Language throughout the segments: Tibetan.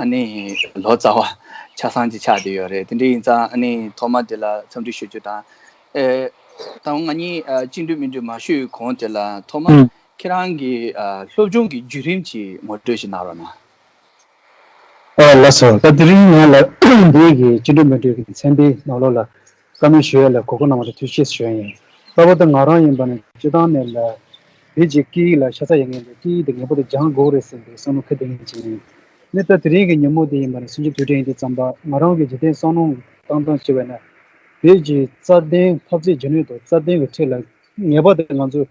ཨ་ནི། ལོ་ཙཱ་བ། ཆགས་སྡང་གཅིག་ཆགས་བསྡད་ཡོད་རེད། དེ་འདྲ་ཡིན་ཙང་ཨ་ནི་ཐོག་མ་དེ་ལ་འཚམས་འདྲི་ཞུ་རྒྱུ་དང། ཨེ། ང་གཉིས་གཅིག་འདྲི་མི་འདྲི་མ་ཞུས་གོང་དེ་ལ་ཐོག་མ། ཁྱེད་རང་གི་སློབ་སྦྱོང་གི་བརྒྱུད་རིམ་གྱི་ངོ་སྤྲོད་ཞིག་གནང་རོགས་གནང། ལོ་ཙཱ་བ། དེ་རིང་ང་ལ་འདི་ཡི་གཅིག་འདྲི་མི་འདྲི་གི་མཚན་དཔེའི་ནོར་ལོག་ལ། བཀའ་མོལ་ཞུ་ཡ་ལ་གོ་གོ་གནང་བ་དེ་དུས་ཕྱིས་སུ་ཞུ་ཡ་ཡིན། ལྟ་བུ་དེ་ང་རང་ཡིན་པ་ནི་སྤྱི་བཏང་ནས་ལ། དེའི་རྗེས་སྐད་ཡིག་ལ་ཤ་ཚ་ཡ་ངེས་འདུག་སྐད་ཡིག་དེ་ངེས་པོ་དེ་སྦྱང་དགོས་རེད་ཟེར་འདུག་བསམ་བློ་ཁ་དེ་ངེས་ཅན་ཡིན། གནས་སྟབས་དེ་རིང་གི་ཉིན་མོ་དེ་ཡིན་པ་ནི་སུན་ཅི་དུས་དྲན་དུ་བརྩམས་པ་ང་རང་གིས་འཇིག་རྟེན་གསང་ལུང་བཏང་སྟངས་ཅི་བས་ན། དེའི་རྗེས་རྩ་བརྟན་འཐབ་རྩོད་བྱེད་ནུས་དང་རྩ་བརྟན་གྱི་ཁྲིད་ལ་ངེས་པ་དེ་ང་ཚོས་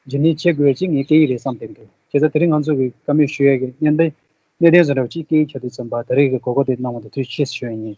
རྗེས་ནས་བྱེད་དགོས་ཅིག་ངས་སྐད་ཡིག་རེད་བསམ་བསྡད་འདུག་ཁྱེད་ཚོ་དེ་རིང་ང་ཚོ་གི་བཀའ་མོལ་ཞུ་ཡ་གི་གནས་གནས་བརྟན་བཟོ་འདྲ་བ་ཅིག་སྐད་ཡིག་ཆ་དུས་བརྩམས་པ་དེ་རིགས་གི་གོ་གོ་དེ་གནང་བ་དེ་དུས་ཕྱིས་སུ་ཞུ་ཡ་ཡིན།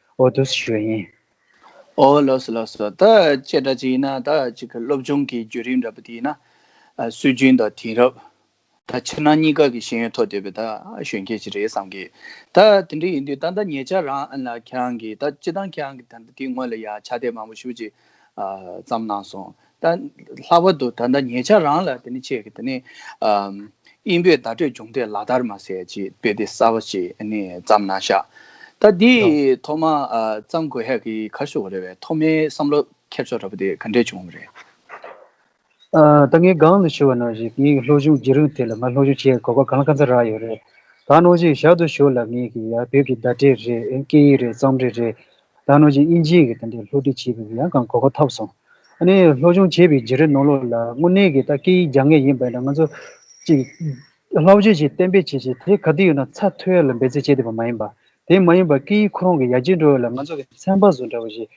ཨོ་དོ་སི་ཞོ་ཡིན། ཨོ་ལོ་སི་ལོ་སི་ད་ཅི་འདྲ་ཅིག་ཡིན་ན་ད་ཅི་གི་སློབ་སྦྱོང་གི་བརྒྱུད་རིམ་འདྲ་པོ་དེ་ཡིན་ན། སྲོལ་རྒྱུན་དང་དེང་རབས། ད་ཕྱི་ནང་གཉིས་ཀ་གི་ཤེས་ཡོན་ཐོག་དེ་བས་ད་གཞོན་སྐྱེས་ཤིག་རེད་བསམ་གི། ད་དེ་འདྲ་ཡིན་དུས་ད་ད་ངེད་ཅག་རང་ཨ་ལ་ཁྱེད་རང་གིས་ད་ཅི་ད་ཁྱེད་རང་གིས་ད་དེ་དངོས་ལ་ཡ་ཆ་དེ་མང་པོ་ཞུ་ཅིག་བརྩམས་གནང་སོང། ད་ལྷག་པར་དུ་ད་ལྟ་ཉེ་ཆར་རང་ལ་དེ་ནི་ཆེ་གེ་དེ་ནི་དབྱིན་བོད་བརྡ་སྤྲོད་སྦྱོང་འབྲས་ལག་བསྟར་མ་ཟད་ཅེས་དཔེ་དེབ་གསར་བ་ཞིག་བརྩམས་གནང་ཤག་ད་འདི་ཐོག་མ་བརྩམས་དགོས་ཧད་ཀི་གར་ཞུ་བ་རེད་བས་ཐོག་མའི་བསམ་བློ་ཁྱེར་ཆོག་འདྲ་པོ་དེ་ག་འདྲས་བྱུང་བ་རེད། ད་ངས་སྒང་ལ་ཞུ་བ་ནང་བཞིན་ངའི་སློབ་སྦྱོང་བགྱི་རིན་དེ་ལ་ང་སློབ་སྦྱོང་བྱས་ཀྱི་གོ་སྐབས་གང་ལ་ག་ཚོད་རག་ཡོད་རེད་ད་ནང་བཞིན་ཞག་ཏུ་ཞོག་ལ་ངས་ཀྱི་ཡ་བོད་ཀྱི་བརྡ་སྤྲད་རེད་སྐད་ཡིག་རེད་བརྩམས་འབྲས་རེད་ད་ནང་བཞིན་དབྱིན་ཇིའི་ཏན་ཏན་ལྷོད་བྲིས་བྱས་པས་ཡང་གང་གོ་གོ་ཐོབ་སོང། ཨ་ནི་སློབ་སྦྱོང་བྱས་པའི་བརྗེ་རེས་གནང་ལུགས་ལ་དངོས་གནས་ཀྱི་ད་སྐད་ཡིག་རྒྱ་ངེས་ཡིན་པས་ན་ང་ཚོ་ཅིག་ལྷག་བརྗོད་ཅིག་གཏན་འབེབས་བྱེད་ཅིག་དེ་ག་དུས་ཡོད་ན་ཚ་ཐོལ་ལ་འབད་བརྩོད་བྱེད་བསྡད་པ་མ་ཡིན་པ། དེ་མ་ཡིན་པར་སྐད་ཡིག་ཁོ་རང་གི་ཡར་རྒྱས་འགྲོ་བའི་ལ་ང་ཚོ་གི་ཚན་པ་བཟོ་འདྲ་བ་ཞིག་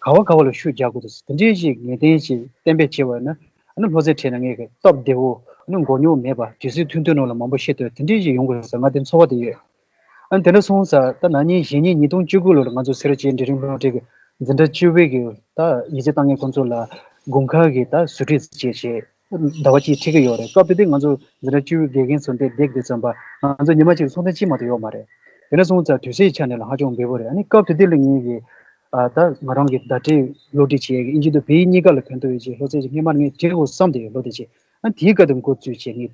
ག་བ་ག་བ་ལ་ཤུགས་རྒྱག་དགོས་འདུག་དེ་འདྲའི་ཞིག་ངེས་གཏན་ཞིག་གཏན་འབེབས་བྱས་བས་ན་ཨ་ནི་ལྷོ་རྩེ་ཁྲེས་ན་ངེས་ཀྱི་སྟོབས་བདེ་བོ་ཨ་ནི་མགོ་རྙོག་མེད་པ་དུས་ཚོད་ཐུང་ཐུང་ནང་ལ་མང་པོ་ཤེས་འདོད་དེ་འདྲའི་ཞིག་ཡོང་དགོས་ཟེར་ང་དེ་འཚོ་བ་དེ་ཡོད། ཨ་དེ་འདྲ་སོང་ས་ད་ན་ཉིན་ཞེ་གཉིས་ཉིས་སྟོང་བཅུ་དགུ་ལོར་ང་ཚོ་སེར་བྱེས་འབྲི་རིང་སློབ་ཁྲིད་ཀྱི་འཛིན་གྲྭ་བཅུ་བའི་གི་ད་ཡིད་ཆེས་བཏང་མཁན་ཁོང་ཚོ་ལ་དགུན་ཁ་གི་ད་ཟུར་ཁྲིད་བྱས་བྱས་ཟླ་བ་གཅིག་ཁྲིད་ཀྱི་ཡོད་རེད་སྐབས་དེ་དུས་ང་ཚོ་འཛིན་གྲྭ་བཅུ་བའི་དགེ་རྒན་ཚོ་འདེགས་འདེགས་དེ་བརྩམས་པ་ང་ཚོ་ཉི་མ་གཅིག་ཚོགས་ཐེངས་གཅིག་མ་ཏོག་ཡོད་མ་རེད་དེ་འདྲ་སོང་ས་དུས་ཚོད་ཆ་ནས་ལ་ཧ་ཅང་འབེལ་པོ་རེད་ཨ་ནི་སྐབས་དེ་དུས་ལ་ངས་གི་ད་ང་རང་གི་ད་ཁྲིད་སློབ་ཁྲིད་བྱས་གི་ཨིན་ཇི་དང་བེ་ཡི་གཉིས་ཀ་ལ་ཕན་ཐོག་ཡོད་ཅེས་ལྷོ་རྩེ་གཅིག་སྔས་མར་ངས་བྲིས་འོ་བསམ་དེ་ལོ་དེ་བྱས་ཨ་དེའི་སྐབས་དེ་འགོ་བཙུད་བྱས་ངེས་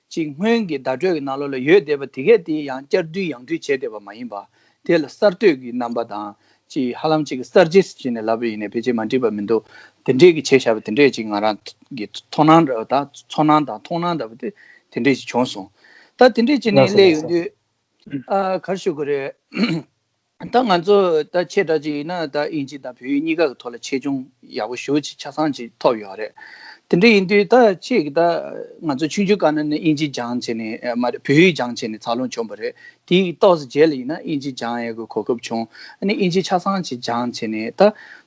གཅིག་སྔོན་གྱི་བརྡ་སྤྲོད་ཀྱི་ནང་ལོགས་ལ་ཡོད་བསྡད་པ་དེ་གས་དེ་ཡང་བསྐྱར་བསྡུས་ཡང་བསྡུས་བྱས་བསྡད་པ་མ་ཡིན་པར་དེ་ལ་གསར་གཏོད་ཀྱི་རྣམ་པ་དང་ཅི་ཧ་ལམ་ཅིག་གསར་བརྗེ་ཞེས་ནས་ལབ་པ་ཡིན་ནས་ཕལ་ཆེར་མ་འགྲིག་པ་མི་འདུག་དེ་འདྲས་ཀྱི་བྱས་བཞག་པ་དེ་འདྲས་ཅིག་ང་རང་གི་མཐོང་སྣང་དང་ཚོར་སྣང་དང་མཐོང་སྣང་ལྟ་བུ་དེ་དེ་འདྲས་ཅིག་བྱུང་སོང། ད་དེ་འདྲས་ཅིག་ནས་སླེབས་ཡོང་དུས། གར་ཞུ་དགོས་རེད། ད་ང་ཚོ་ད་ཆེ་དྲག་ཅིག་ཡིན་ན་ད་དབྱིན་ཇི་དང་བོད་ཡིག་གཉིས་ཀ་གི་ཐོག་ལ་ཆེ་ཆུང་ཡག་པོ་ཞུ་ཅིག་ཆ་ཚང་ཅིག་ཐོབ་ཡོད་རེད། དེ་འདྲ་ཡིན་དུས་ད་ཁྱེད་ཀྱི་ད་ང་ཚོ་ཆུང་ཆུང་དཀའ་ན་ནི་དབྱིན་ཇི་སྦྱང་བྱས་ནས་མ་རེད་བོད་ཡིག་སྦྱང་བྱས་ནས་འཚར་ལོངས་བྱུང་བ་རེད་དེའི་རྟོག་བཟོ་རྗེས་ལ་ཡིན་ན་དབྱིན་ཇི་སྦྱང་ཡག་གི་གོ་སྐབས་བྱུང་ཨ་ནི་དབྱིན་ཇི་ཆ་ཚང་ཅིག་སྦྱང་བྱས་ནས་ད་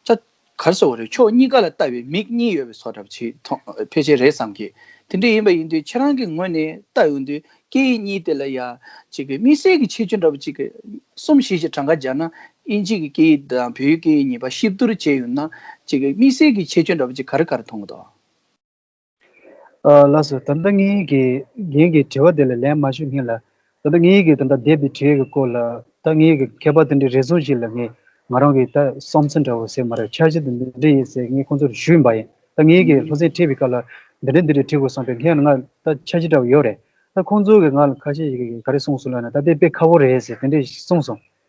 ཆ། གར་སོགས་རེད་ཕྱོགས་གཉིས་ཀ་ལ་ལྟ་བའི་མིག་གཉིས་ཡོད་པའི་སོ་གྲབས་བྱེད་མཐོང་ཕལ་ཆེར་རེད་བསམ་གི། དེ་འདྲ་ཡིན་པ་ཡིན་དུས་ཁྱེད་རང་གི་ངོས་ནས་ལྟ་ཡོང་དུས་སྐད་ཡིག་གཉིས་དེ་ལ་ཡང་གཅིག་གི་དམིགས་བསལ་གྱི་ཁྱད་ཆོས་འདྲ་པོ་གཅིག་གི་གསུམ་བཞི་ཞེས་གྲངས་ཀ་སྦྱར་ན་དབྱིན་ཇིག་གི་སྐད་ཡིག་དང་བོད་ཡིག་སྐད་ཡིག་གཉིས་པ་གཤིབ་བསྡུར་བྱས་ཡོང་ན་གཅིག་གི་དམིགས་བསལ་གྱི་ཁྱད་ཆོས་འདྲ་པོ་གཅིག་ག་རེ་ག་རེ་མཐོང་གི་འདུག། ལགས་སོ། ད་ལྟ་ངེད་ཀྱི་རྒན་གྱི་དྲི་བ་དེ་ལ་ལན་མ་ཞུ་ངེས་ལ། ད་ལྟ་ངེད་ཀྱི་ད་ལྟ་འདས་པའི་དྲི་བའི་སྐོར་ལ་ད་ངེད་ཀྱི་མཁས་པ་དེ་འདྲའི་རེ་ཟུང་ཞིག་ལ་ངས་ང་རང་གིས་ད་བསམ་ཚུལ་འདྲ་བོ་ཟེར་མ་རེད་འཆར་གཞི་དེ་འདི་འདྲ་ཡིན་ཟེར་ངས་ཁོང་ཚོར་ཞུ་ཡི་མ་ཡིན། ད་ངེད་ཀྱིས་ལྷུ་ཚན་ཁྲིད་པའི་སྐབས་ལ་འདི་འདྲ་འདི་འདྲ་ཁྲིད་དགོས་བསམ་པའི་ལྷན་ང་ལ་ད་འཆར་གཞི་འདྲ་བོ་ཡོད་རེད། ད་ཁོང་ཚོ་གིས་ང་ལ་ཁ་ཤས་ཤིག་གིས་ག་རེ་གསུངས་སོང་ལབ་ན་ད་དེ་དཔེ་ཁ་བོ་རེད་ཟེར་དེ་འདྲས་ཞིག་གསུངས་སོང།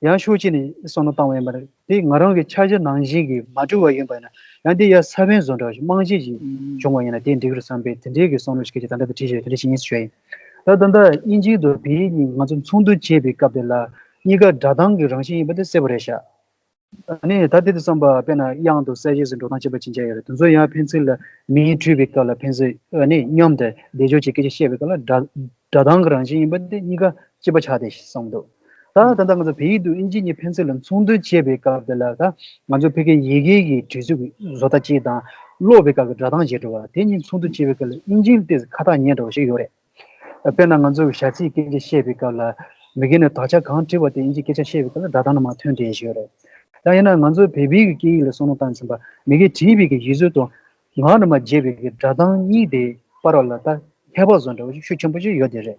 ཡང་ཤོག་ཅིག་ནི་སོ་ན་བཏང་བ་ཡིན་པ་རེད་དེ་ང་རང་གི་ཕྱག་རྗེས་ནང་བཞིན་གྱི་མ་འགྲུལ་བ་ཡིན་པ་ཡིན་ན་ཡང་དེ་ཡང་ས་བོན་བཟོ་འདྲ་ཞིག་དམངས་ཆེད་ཀྱིས་བྱུང་བ་ཡིན་ན་དེ་འགྲིག་རུ་བསམ་པས་དེ་འབྲེལ་གྱི་གསང་ལུགས་ཤིག་གིས་ད་ལྟ་དེ་བྲིས་བྱས་དེ་འདྲ་ཞིག་ཡིན་ཟེར་བྱས་ཡིན། ད་ལྟ་ད་དབྱིན་ཇིའི་དུ་བྷི་ཡིག་གཉིས་ང་ཚོ་མཚུངས་བསྡུར་བྱེད་པའི་སྐབས་དེ་ལ་གཉིས་ཀ་སྒྲ་གདངས་ཀྱི་རང་བཞིན་ཡིན་པ་དེ་གསལ་པོ་རེད་ཤག་ད་ནི་ད་དེ་དུ་བསམ་པ་དཔེར་ན་དབྱངས་དང་གསལ་བྱེད་སུ་འགྲོ་སྟངས་ཅི་བ་ཇི་འཇའ་ཡོད་རེད་དེ་ཚོ་ཡང་ཕན་ཚུན་ལ་མིང་ཡིག་བྲིས་པའི་སྐབས་ལ་ཕན་ཚུན་ནས་སྙོམས་ཏེ་བདེ་སྦྱོར་གྱི་སྐད་ཆ་བཤད་པའི་སྐབས་ལ་སྒྲ་གདངས་ཀྱི་རང་བཞིན་ཡིན་པ་དེ་གཉིས་ཀ་གཅིག་པ་ཆགས་ཏེ་བསམ་འདུག། ད་ད་ལྟ་ང་ཚོ་བོད་ཡིག་དང་ཨིན་ཇི་གཉིས་ཕན་ཚུན་ལ་མཚུངས་འདོན་བྱེད་པའི་སྐབས་འདི་ལ་ད་ང་ཚོ་བོད་སྐད་ཡི་གེ་ཀྱི་བྲིས་ཚུགས་བཟོ་ལྟ་སྤྱི་དང། ཀློག་པའི་སྐབས་ཀྱི་སྒྲ་གདངས་བཞི་འགྲོ་བ་དེ་གཉིས་མཚུངས་འདོན་བྱེད་པའི་སྐབས་ལ་ཨིན་ཇིའི་ལྟས་སུ་ཁ་ཐག་ཉེ་འདྲ་བ་ཞིག་ཡོད་རེད། དཔེར་ན་ང་ཚོས་ཞྭ་ཚིག་སྐད་ཆ་བཤད་པའི་སྐབས་ལ། མི་སྒེར་ནས་དག་ཆ་གང་བྲིས་པ་དེ་ཨིན་ཇིའི་སྐད་ཆ་བཤད་པའི་སྐབས་ལ་སྒྲ་གདངས་ནི་མ་ཐོན་བྲལ་ཞིག་ཡོད་རེད། ཡང་ཡིན་ན་ང་ཚོས་བོད་བོད་ཀྱི་སྐད་ཡིག་ལ་སོ་ནོར་བཏང་ཟིན་པ་མི་སྒེར་བྲིས་པའི་ཀྱི་ཡིག་གཟུགས་དང། ངག་ནི་མ་བརྗེད་པའི་ཀྱི་སྒྲ་གདངས་གཉིས་དེ་སྤར་བ་ལ་ད་ཁྱད་པར་བཟོ་འདྲ་བ་ཤུགས་ཆེན་པོ་ཞིག་ཡོད་དེ་རེད།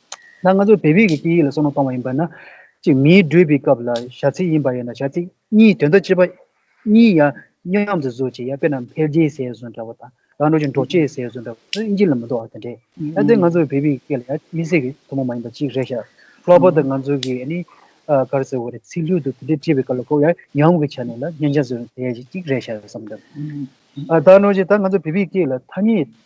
ད་ང་ཚོ་བལ་བོད་ཀྱི་སྐད་ཡིག་ལ་བསོད་ནམས་གཏོང་བ་ཡིན་པ་ན། གཅིག་མིའི་བགྲོད་པའི་སྐབས་ལ་བྱ་ཚིག་ཡིན་པ་ཡང་ན་བྱ་ཚིག་གཉིས་དོན་དག་ཅི་པ་གཉིས་ཡང་མཉམ་དུ་བཟོ་བྱེད་ཡ་དཔེར་ན་འཕེལ་རྒྱས་ཟེར་བཟོ་འདྲ་བོ་དང་རང་འགྲོ་ཅིག་འགྲོ་བྱེད་ཟེར་བཟོ་འདྲ་བོ་སུ་ཨིན་ཇི་ལ་མི་འདོག་དེ་འདྲའི་ཡ་དེ་ང་ཚོ་བལ་བོད་ཀྱི་སྐད་ལ་ཡ་དབྱིན་སྲིད་ཀྱི་ཐུན་མོང་མ་ཡིན་པ་གཅིག་རེད་ཤག་ལྷག་པར་དུ་ང་ཚོ་གི་ཨནི་གར་ཟེར་བ་རེད་ཚིག་ལྷུག་ཏུ་དེ་འདྲའི་བྲིས་པའི་སྐབས་ལ་ཁོ་ཡ་ཉམས་ཀྱི་ཆ་ནས་ལ་སྙན་ཆ་བཟོ་ཡ་གཅིག་རེད་ཤག་བསམ་འདོད་ཨ་ད་འགྲོ་ཅིག་ད་ང་ཚོ་བལ་བོད་ཀྱི་སྐད་ལ་ཐ་སྙད་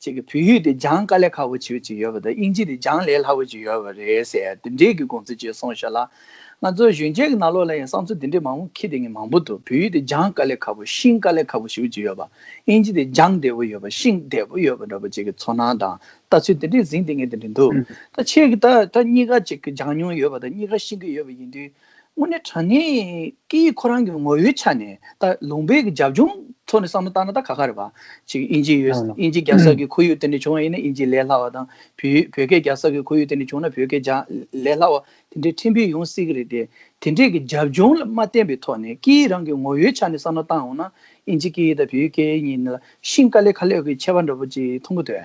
ཅིག་གི་བོད་ཡིག་དེ་སྦྱང་དཀའ་ལས་ཁག་པོ་ཆེ་བོ་ཅིག་ཡོད་པ་དང་དབྱིན་ཇི་དེ་སྦྱང་ལས་སླ་བོ་ཅིག་ཡོད་པ་རེད་ཟེར་དེ་འདྲའི་གི་དགོངས་ཚུལ་བཅས་སོང་ཞོར་ལ། ང་ཚོ་གཞོན་སྐྱེས་ཀི་ནང་ལོགས་ལ་ཡང་བསམ་ཚུལ་དེ་འདྲའི་མང་པོ་ཁྱི་དེ་ངས་མང་པོ་འདུག་བོད་ཡིག་དེ་སྦྱང་དཀའ་ལས་ཁག་པོ་ཤིན་དཀའ་ལས་ཁག་པོ་ཞིག་བོ་ཅིག་ཡོད་པ། དབྱིན་ཇི་དེ་སྦྱང་བདེ་བོ་ཡོད་པ་ཤིན་བདེ་བོ་ཡོད་པ་འདྲ་པོ་ཅིག་གི་ཚོར་སྣང་དང་ལྟ་ཚུལ་དེ་འདྲའི་ཟིན་དེ་ངས་དེ་འདྲའི་འདུག་ད་ཁྱེད་ཀི་ད་ད་གཉིས་ཀ་ཅིག་གི་སྦྱང་མྱོང་ཡོད་པ་དང་གཉིས་ཀ་ཤིན་གི་ཡོད་པ་ཡིན་དུས། དངོས་གནས་དྲང་ངེས་ཀྱི་ཁོ་རང་གི་ངོ་བོའི་ཆ་ནས་ད་ལུང་པའི་གི་རྒྱབ་ལྗོངས་ཐོག་ནས་བསམ་བློ་བཏང་ན་ད་ག་ག་རེད་བ། ཅིག་དབྱིན་ཇི་ཡོད་དབྱིན་ཇི་རྒྱ་བསགས་ཀྱི་ཁོར་ཡུག་དེ་ནས་བྱུང་བ་ཡིན་ན་དབྱིན་ཇི་ལས་སླ་བ་དང། བུ་བོད་སྐད་རྒྱ་བསགས་ཀྱི་ཁོར་ཡུག་དེ་ནས་བྱུང་ན་བོད་སྐད་རྒྱ་ལས་སླ་བ་དེ་འདྲའི་ཁྲིམས་འཕེལ་ཡོང་སྲིད་ཀྱི་རེད་དེ། དེ་འདྲའི་གི་རྒྱབ་ལྗོངས་ལ་མ་བརྟེན་པའི་ཐོག་ནས་ཀྱི་རང་གི་ངོ་བོའི་ཆ་ནས་བསམ་བློ་བཏང་འོང་ན་དབྱིན་ཇི་སྐད་དང་བོད་སྐད་གཉིས་ནི་ལ་ཤིང་དཀར་ལས་ཁ་ལེགས་ཀྱི་ཁྱད་པར་འདྲ་པོ་ཅིག་མཐོང་གི་འདུག།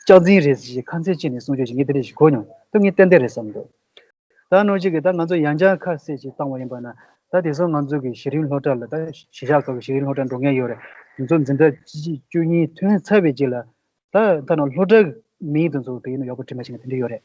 སྐྱག་རྫིང་རེད་ཅེས་ཁ་མཚན་བཅད་ནས་གསུངས་རྗེས་ཀྱི་ངས་དེ་ལས་ཞིག་གོ་མྱོང་ཐུབ་ངེས་ཏན་ཏན་རེད་བསམ་འདུག་ད་ནོར་གཅིག་གིས་ད་ང་ཚོ་ཡང་བསྐྱར་ཁ་གསལ་གྱིས་བཏང་བ་ཡིན་པ་ན་ད་དེ་སང་ང་ཚོ་གི་གཞི་རིམ་སློབ་གྲྭ་ལ་ད་གཞི་ཆགས་སྐབས་ཀྱི་གཞི་རིམ་སློབ་གྲྭ་འགྲོ་མཁན་ཡོད་རེད་དེ་ཚོ་འཛིན་གྲྭ་བཅུ་གཉིས་ཐོན་ཚར་བའི་རྗེས་ལ་ད་ད་ནང་སློབ་གྲྭ་མིང་དེ་ཚོ་དེ་ཡིན་ན་ཡག་པོ་བྲིས་མ་ཤེས་ན་དེ་འདྲ་ཡོད་རེད།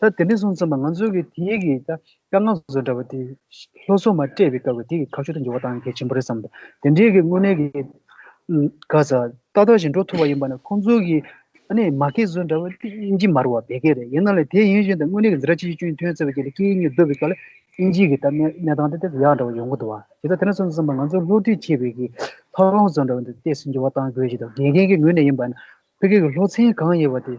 ད་དེ་འདྲའི་གསུང་ཙམ་པ་ང་ཚོའི་གི་དེའི་གི་ད་དཀའ་ངལ་བཟོ་འདྲ་བ་དེ་ལྷོ་སོ་མ་སྤྲད་པའི་སྐབས་ཀྱི་དེ་གི་ཁ་ཆུ་དང་འབྱོར་བ་དང་གལ་ཆེན་པོ་རེད་བསམ་དེ་འདྲའི་གི་དངོས་གནས་གི་ག་ས་ཏག་ཏག་བཞིན་འགྲོ་ཐུབ་པ་ཡིན་པ་ནི་ཁོང་ཚོའི་གི་ཨ་ནེ་མ་ཁེ་བཟོ་འདྲ་བ་དེ་ཨིན་ཇི་མར་བ་བད་སྐད་རེད་ཡིན་ན་ལ་དེ་ཡིན་བཞིན་དུ་དངོས་གནས་གི་འཛི་ར་ཆེ་ཆེ་ཆུང་ཆུང་ཐོན་ཟེར་བ་གི་ལ་སྐད་གཉིས་སྡུག་པའི་སྐབས་ལ་ཨིན་ཇི་གི་ད་གནས་གནས་སྟངས་དེ་དེ་ཡག་འདྲ་བ་ཡོང་གི་འདུག་བ་དེ་ད་དེ་འདྲ་གསུང་ཙམ་པ་ང་ཚོའི་ལྷོ་སྤྲུལ་ཆེ་བའི་གི་ལྷ་རོང་བཟོ་འདྲ་བ་དེ་ལྟས་སུ་འགྱུར་བ་གཏང་དགོས་ཀྱི་འདུག་དགེ་རྒན་གི་ངོས་ནས་ཡིན་པ་ནི་ཕི་གེ་གི་ལྷོ་ཚན་གང་ཡིན་བ་དེ།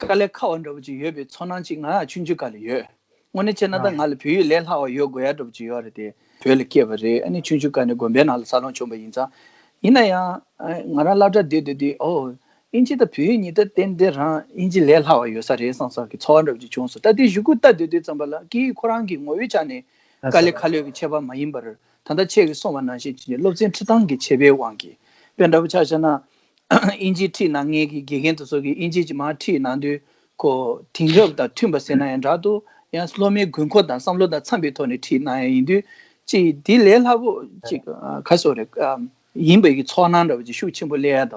དཀའ་ལས་ཁག་བ་འདྲ་བོ་ཅིག་ཡོད་པའི་ཚོར་སྣང་ཅིག་ང་ཡང་ཆུང་ཆུང་ག་ལ་ཡོད། དངོས་གནས་བྱས་ན་ད་ང་ལ་བོད་ཡིག་ལས་ལྷག་བ་ཡོད་དགོས་ཡ་འདྲ་བོ་ཅིག་ཡོད་རེད་དེ། བོད་ལ་སྐྱེས་པ་རེད་ཨ་ནི་ཆུང་ཆུང་ག་ནས་དགོན་པའི་ནང་ལ་ས་ལོངས་བྱུང་བ་ཡིན་ཙང། ཡིན་ན་ཡང། ང་རང་བླ་གྲྭར་སྡོད་སྡོད་དུས་ཨོ། ཨིན་ཇི་དང་བོད་ཡིག་གཉིས་ད་ལྟའི་འདི་རང་ཨིན་ཇི་ལས་ལྷག་བ་ཡོད་ས་རེད་བསམ་བསམ་གྱི་ཚོར་བ་འདྲ་བོ་ཅིག་བྱུང་སོང་ད་ལྟའི་གཞུག་གུར་ལྟ་སྡོད་སྡོད་ཙམ་པ་ལ་ཀི་ཡིག་ཁོ་རང་གི་ངོ་བོའི་ཆ་ནས་དཀའ་ལས་ཁ་ལོས་ཀྱི་ཆད་པ་མ་ཡིན་པར་ད་ལྟ་ཆད་ཀྱི་སོང་བ་ནང་བཞིན་ཅི་ནས་སློབ་ཚན་ཁྲིད་སྟངས་ཀྱི་ཆད་པའི་དབང་གིས་དཔེ་འདྲ་བོ་ཆགས་ཤག་ན། ཨིན་ཇིའི་འཁྲིས་ནང་ངེད་ཀྱི་དགེ་རྒན་དུ་ཟུར་གྱི་ཨིན་ཇིའི་སྤྱི་དམངས་འཁྲིས་ནང་དུས་འཁོར་དེང་རབས་དང་མཐུན་པ་ཟེར་ན་ཡང་འདྲ་འདུག་ཡང་སློབ་མའི་དགོས་མཁོ་དང་བསམ་བློ་དང་འཚམས་པའི་ཐོག་ནས་འཁྲིས་ནང་ཡང་ཡིན་དུས་ཅི་དེ་ལས་སླ་པོ་ཅིག་ག་སོ་རེད། ཡིན་བོད་ཀྱི་ཚོགས་ནང་འདྲ་བ་ཅིག་ཤུགས་ཆེན་པོ་སླེ་ཡ་ད།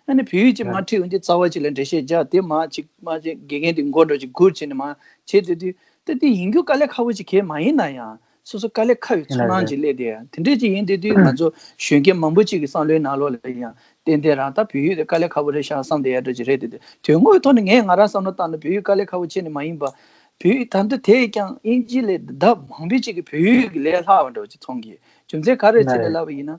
ཡང་ན་བོད་ཡིག་སྤྱི་དམངས་འཁྲིས་འོན་ཏེ་རྩ་བ་ཅིག་ལ་འགྲེལ་བཤད་རྒྱག་དེ་མ་ཅིག་མ་ཅིག་དགེ་རྒན་དེ་མགོ་འགྲོ་ཅིག་སྒུར་བྱེད་ནས་མ་བྱེད་དེ་དུས་ད་དེ་ཡིན་རྒྱུ་དཀའ་ལས་ཁ་བོ་ཅིག་གེ་མ་ཡིན་ན་ཡང། སོ་སོ་དཀའ་ལས་ཁ་བའི་ཚོར་སྣང་ཅིག་སླེབས་ཏེ་དེ་འདྲས་ཅིག་ཡིན་དེ་དུས་ང་ཚོ་གཞོན་སྐྱེས་མང་པོ་ཅིག་གི་བསམ་བློའི་ནང་ལོག་ལ་ཡང་ཏན་ཏན་རང་ལྟ་བོད་ཡུལ་དེ་དཀའ་ལས་ཁ་བོ་རེད་བཞག་བསམ་དེ་ཡར་འགྲོ་ཅིག་རེད་དེ་དུས་དོན་དངོས་ཐོག་ནས་ངས་ང་རང་བསམ་བློ་བཏང་ན་བོད་ཡུལ་དཀའ་ལས་ཁ་བོ་ཆེ་ནི་མ་ཡིན་པ། བོད་ཡུལ་ད་ལྟ་དེས་ཀྱང་དབྱིན་ཇིའི་ལས་བདག་མང་པོ་ཅིག་གིས་བོད་ཡུལ་གྱི་ལས་ལྷག་བ་འདྲ་བ་ཅིག་ཚོང་གི་རྒྱུ་མཚན་ག་རེ་བྱེད་ལ་ལབ་པ་ཡིན་ན།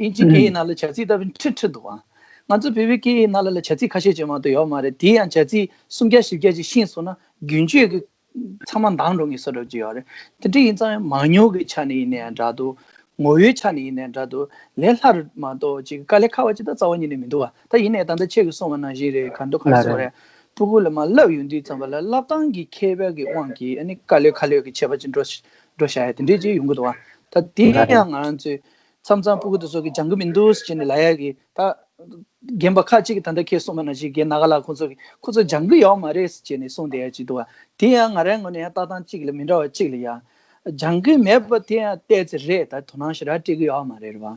ཨིན་ཇིའི་སྐད་ཡིག་ནང་ལ་བྱ་ཚིག་ལྟ་བུ་ཁྲི་ཁྲི་འདུག་ཨང། ང་ཚོ་བོད་པའི་སྐད་ཡིག་ནང་ལ་ལ་བྱ་ཚིག་ཁ་ཤས་ཅན་མང་དུ་ཡོད་མ་རེད་དེ་ཡང་བྱ་ཚིག་སུམ་བརྒྱ་བཞི་བརྒྱ་ཅིག་ཤིང་བཟོ་ན་རྒྱུན་སྤྱོད་ཀྱི་ཚང་མ་འདང་འགྲོ་ངེས་བཟོ་འགྲོ་ཅིག་ཡོད་རེད་དེ་འདྲ་ཡིན་ཙང་ཡང་མང་ཉུང་གི་ཆ་ནས་ཡིན་ན་ཡང་འདྲ་འདུག་ངོ་བོའི་ཆ་ནས་ཡིན་ན་འདྲ་འདུག་ལས་སླ་རུ་མ་གཏོགས་ཅིག་དཀའ་ལས་ཁག་བ་ཅིག་ད་རྩ་བ་ཉིད་ནས་མི་འདུག་ཨ། ད་ཡིན་ནའི་ད་ལྟ་ཁྱེད་ཀྱི་གསུང་བ་ནང་བཞིན་རེད་གར་འདུག་གར་སོང་རེད་སྤུ་གུ་ལ་མ་བསླབས་ཡོང་དུས་ཙམ་པ་ལ་བསླབ་སྟངས་ཀྱི་ཁྱད་པར་གྱི་དབང་གིས་ཨ་ནི་དཀའ་ལས་ཁ་ལོས་ཀྱི་བྱས་པ་ཅིག་འགྲོ་འགྲོ་ཤ་ཡ་དེ་འདྲས་ཅིག་ཡོང་གི་འདུག་ད་དེ་ཡང་ང་རང་ཚོས་མཚམས་མཚམས་པུ་གུ་དེ་ཚོ་གི་སྦྱང་གི་མི་འདུག་ཅེས་ནས་ལ་ཡ་གི་ད་རྒན་པ་ཁ་ཅིག་གི་ད་ལྟ་ཁྱེད་གསུངས་པ་ན་ཅིག་རྒན་ན་ག་ལ་ཁོ་ཚོ་གི་ཁོ་ཚོ་སྦྱང་གི་ཡོད་མ་རེད་ཅེས་ནས་གསུངས་བསྡད་ཡ་ཅིག་འདུག་དེ་ཡང་ང་རང་ངོ་ནས་ཡང་ལྟ་སྟངས་ཅིག་ལ་མི་འདྲ་བ་ཅིག་ལ་ཡ་སྦྱང་གི་མེད་པ་དེ་ཡང་བལྟས་ཚེ་རེད་ད་དོ་སྣང་ཞེ་དྲག་སྤྲད་གི་ཡོད་མ་རེད་རེད་བ།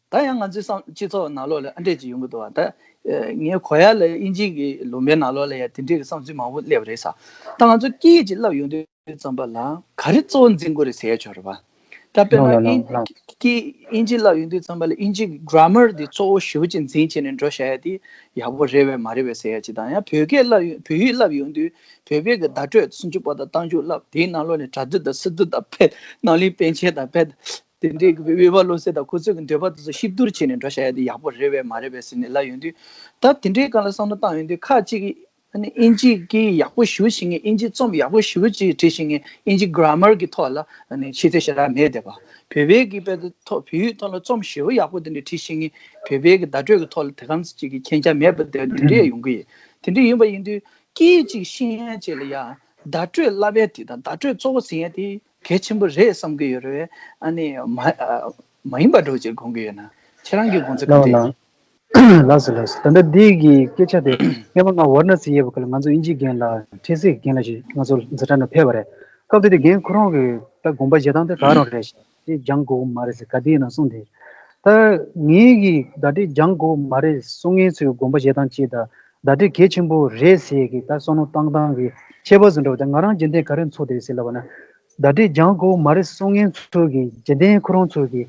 ད་ཡང་ང་ཚོའི་སམ་སྤྱི་ཚོགས་ནང་ལོགས་ལ་ཨ་འབྲས་ཅིག་ཡོང་གི་འདུག་བ་ད། ངའི་གོ་ཡ་ལ་དབྱིན་ཇིའི་གི་ལུང་པའི་ནང་ལོགས་ལ་ཡང་དེ་འདྲའི་གི་བསམ་ཚུལ་མང་བོ་སླེབས་རེད་ས། ད་ང་ཚོ་སྐད་ཅིག་བསླབས་ཡོང་དུས་ཙམ་པ་ལ་ག་རེ་གཙོ་བོ་འཛིན་དགོས་རེད་ཟེར་ཡས་ཆོག་རེད་བ། ད་དཔེར་ན་ཨིན་ཨིན་ཇི་བསླབས་ཡོང་དུས་ཙམ་པ་ལ་ཨིན་ཇིའི་གི Grammar དེ་གཙོ་བོ་ཞིབ་ཅིག་འཛིན་བྱས་ནས་འགྲོ་བཞག་ཡས་དེ་ཡག་པོ་རེད་བས་མ་རེད་བས་ཟེར་ཡས་ཅིག་དང་ཡང་བོད་སྐད་བསླབས་ཡོང་བོད་ཡིག་བསླབས་ཡོང་དུས་བོད་པའི་གི་བརྡ་སྤྲོད་སུམ་ཅུ་པ་དང་རྟགས་འཇུག་བསླབས་དེའི་ནང་ལོགས་ལས་གྲ་སྒྲིག་དང་སི་ཏུ་དང་ཕེད་ནང་གླིང་པན་ཆེན་དང་ཕེད་དེ་འདྲའི་དབྱེ་བ་བློ་གསལ་དང་ཁོ་ཚོས་ཀྱི་འདོད་པ་དེ་ཚོ་གཤིབ་བསྡུར་བྱས་ནས་འགྲོ་བཞག་ཡ་དེ་ཡག་པོ་རེད་བས་མ་རེད་བས་ཟེར་ནས་ལབ་ཡོང་དུས། ད་དེ་འདྲའི་ག་ལ་བསམ་བློ་བཏང་ཡོང་དུས་ཁ་ཅིག་གིས། ཨ་ནི་ཨིན་ཇི་སྐད་ཡིག་ཡག་པོ་ཞུ་བཞིན་ངས་ཨིན་ཇི་རྩོམ་ཡག་པོ་ཞུ་ཅེས་བྲིས་བཞིན་ངས་ཨིན་ཇི Grammar གྱི་ཐོག་ལ་ཤེས་ཚད་ཞེ་དྲག་མེད་དེ། བོད་པའི་གི་དཔེ་དེ་ཐོག་བོད་ཡིག་ཐོག་ལ་རྩོམ་ཞེ་བོ་ཡག་པོ་དེ་འདྲ་བྲིས་བཞིན་ངས་བོད་པའི་གི་བརྡ་སྤྲོད་གི་ཐོག་ལ་དེ་གམ་ཚིག་ཅིག་གི་མཁྱེན་རྒྱ་མེད་པ་དེ་དེ་འདྲའི་ཡ་ཡོང་གི་ཡིན། དེ་འདྲ་ཡིན་པ་ཡིན་དུས། སྐད་ཡིག་ཅིག་ཤེས་ཡན་ཅེས་ལ་ཡ། བརྡ་སྤྲོད་སླ་བས་དེ་དང་བརྡ་སྤྲོད་གཙོ་བོ་ཟེར་ཡན་དེ། གལ་ཆེན་པོ་རེད་བསམ་གྱི་ཡོད་རེད། ཨ་ནི། མ་ཡིན་པ་འགྲོ་ཅེས་དགོངས་ཀྱི་ཡོད་ན། ཁྱེད་རང་གི་དགོངས་ཚུལ་ག་རེད། ལགས་སོ་ལགས་སོ་ད་ལྟ་འདི་གི་སྐད་ཆ་དེ་ངེས་པ་ང་ཝར་ན་སི་ཡེ་བ་ཁ་ལ་ང་ཚོ་དབྱིན་ཇིའི་རྒན་ལ་ཁྲེ་སིའི་རྒན་ལ་ཞིག་ང་ཚོ་འཛི་ཀྲ་ན་ཕེབས་པ་རེད་སྐབས་དེ་དུས་རྒན་ཁོ་རང་གི་ད་དགོངས་པ་བཞེས་སྟངས་དེ་ག་རང་རེད་ཞེ་དེ་སྦྱང་དགོས་མ་རེད་ཟེར་ག་དེའི་ནང་གསུངས་དེ། ད་ངེད་ཀྱི་ད་དེ་སྦྱང་དགོས་མ་རེད་སོ་ངེད་ཚོའི་དགོངས་པ་བཞེས་སྟངས་ཀྱི་ད་ཟླ་སྒྲིལ་གལ་ཆེན་པོ་རེད་ཟེར་གི་ད་སོང་ནོ་ཏང་ཏང་གི་ཁྱད་པར་ཟེར་འགྲོ་བ་ད་ང་རང་རྗེས་འདེད་ག་རེ་འཚོགས་དེ་ཟེར་ལབ་པ་ན། ཟླ་སྒྲིལ་རྒྱང་གོ་མ་རེད་སོང་ངན་ཚོད་ཀྱི་རྗེས་འདེད་ཁོ་རང་ཚོ་གི་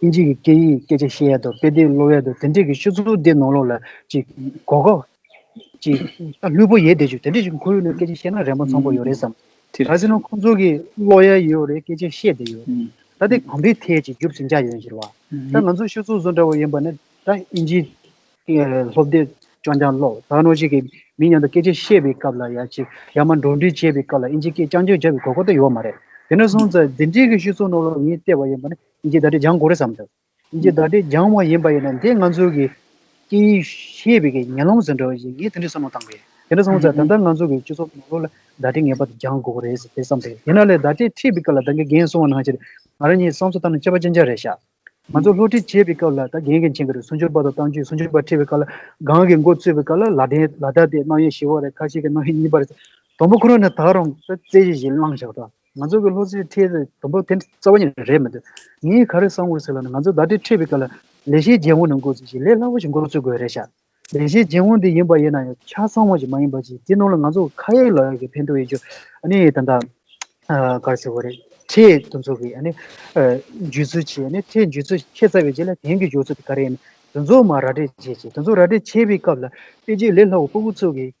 དབྱིན་ཇི་གི་སྐད་ཡིག་སྐད་ཆ་བཤད་ཡས་དོ་དཔེ་དེབ་གློག་ཡས་དོ་དེ་འདྲས་གི་ཤུ་ཚུགས་བསྡད་ནོ་ལོག་ལ་ཅིག་གོ་གོ། ཅིག་ད་ལུས་པོ་ཡས་བསྡད་ཅིག་དེ་འདྲས་ཅིག་ཁོ་ཡུལ་ནས་སྐད་ཆ་བཤད་ན་རན་པོ་འཚམས་པོ་ཡོད་རེད་བསམ། ད་ཟེར་ནོ་ཁོ་ཚོ་གི་གློག་ཡས་ཡོད་རེད་སྐད་ཆ་བཤད་བསྡད་ཡོད་རེད་ད་དེ་གང་འདྲས་ཐད་ཅིག་རྒྱུབ་ཟིན་ཅག་ཡོད་ཟེར་བ། ད་ང་ཚོ་ཤུ་ཚུགས་བཟོ་འདྲ་བོ་ཡིན་པ་ནི་ད་དབྱིན་ཇི་སློབ་དེབ་ཅོ་འཆང་ཀློག་ད་ནོར་ཞིག་གིས་མི་ཉམས་དང་སྐད་ཆ་བཤད་པའི་སྐབས་ལ་ཡག་ཅིག་ཡ་མ་འགྲོ་འདྲི་བྱེད་པའི་སྐབས་ལ་ཨིན་ཇིའི་སྐད་རྐྱང་རྗོད་བྱ་བའི་གོ་སྐབས་དུ་ཡོད་མ་རེད་དེ་ནས་བཟུང་ཚེ་འཛིན་ཁྲིད་ཀྱི་ཤུལ་ཚོགས་ནང་ལོག་ཉིད་ལྟེ་བ་ཡིན་པ་ནི་ཨིན་ཇིའི་བརྡ་སྤྲོད་སྦྱང་དགོས་རེད་བསམ་ཐུབ་ཨིན་ཇིའི་བརྡ་སྤྲོད་སྦྱང་བ་ཡིན་པ་ཡིན་ན་འདི་ང་ཚོའི་གི་སྐད་ཡིག་ཤེས་པའི་གི་ཉེ་ལམ་ཟེར་འདྲ་བ་ཞིག་ངས་དེ་འདྲའི་བསམ་བློ་བཏང་གི་རེད་དེ་ནས་བཟུང་ཚེ་ད་ལྟ་ང་ཚོའི་གི་སྤྱི་ཚོགས་ནང་ལོག་ལ་བརྡ་སྤྲོད་ངེས་པར་དུ་སྦྱང་དགོས་རེད་ཟེར་དེ་བསམ་ཐུབ་ཡིན་ན་ལེ་བརྡ་སྤྲོད་ཁྲིད་པའི་སྐབས་ལ་ད་གི་རྒན་གསུང་བ་ནང་བཞིན་ང་རང་ཉིད་བསམ་ཚུལ་ལྟར་ན་སྤྱོད་པ་ཅན་ཅན་རེད་ཤག་ང་ཚོ་སློབ་ཁྲིད་བྱེད་པའི་སྐབས་ལ་ད་གེ་མཁན་ཆེན་གྱི་རེད་སུ་འབྱོར་པ་དང་བཏང་བྱུས་སུ་འབྱོར་པ་ཁྲིད་པའི་སྐབས་ལ་གང་གི་མགོ་བཙུད་པའི་སྐབས་ལ་ལ་དེ་ལ་ད་དེ་གནང་ཡས་ཞི་བ་རེད་ཁ་ཤས་ཀྱི་གནང་ཡས་གཉིས་པ་རེད་ཟེར་དང་པོ་ཁོ་རང་ནས་ད་རུང་ད་རྩེ་གཞི་བཞིན་བླངས་བཞག་ད་ང་ཚོ་གི་སློབ་ཁྲིད་ཁྲིད་དེ་དང་པོ་དེ་རྩ་བ་ཉིད་རེད་མི་འདུག་ངས་ག་རེ་བསམ་དགོས་ཟེར་ལ་ནི་ང་ཚོ་ད་དེ་ཁྲིད་པའི་སྐབས་ལ་ལས་བྱེད་རྒྱལ་པོ་ནས་མགོ་བཙུད་ཅིག་ལས་སླ་པོ་ཞིག་མགོ་བཙུད་དགོས་རེད་བཞག། ལས་གཞི་རྗེས་དབང་དེ་ཡིན་པ་ཡིན་ན་ཡང་ཆ་ཚང་བ་ཞིག་མ་ཡིན་པ་ཞིག་དེ་ནང་ལ་ང་ཚོ་ཁ་ཡག་ལག་ཡག་གི་ཕན་ཐོགས་ཡོད་རྒྱུ་ཨ་ནི་ད་ལྟ་གར་ཟེར་བ་རེད་ཁྲེ་དོན་ཚོགས་ཀྱི་ཨ་ནི་འཇུས་ཚུལ་བྱས་ཨ་ནི་ཁྲེ་འཇུས་ཚུལ་ཁྱད་མཚར་བའི་རྗེས་ལ་དེང་གི་འཇོག་ཚུལ་དེ་ག་རེ་ཡིན་ན་དོན་ཚོགས་མ་ར་སྤྲད་བྱས་བྱས་དོན་ཚོགས་ར་སྤྲད་བྱས་པའི་སྐབས་ལ་དཔེ་ཆའི་ལས་སླ་བོ་སྤོ་བོ་ཚོགས་ཀྱི་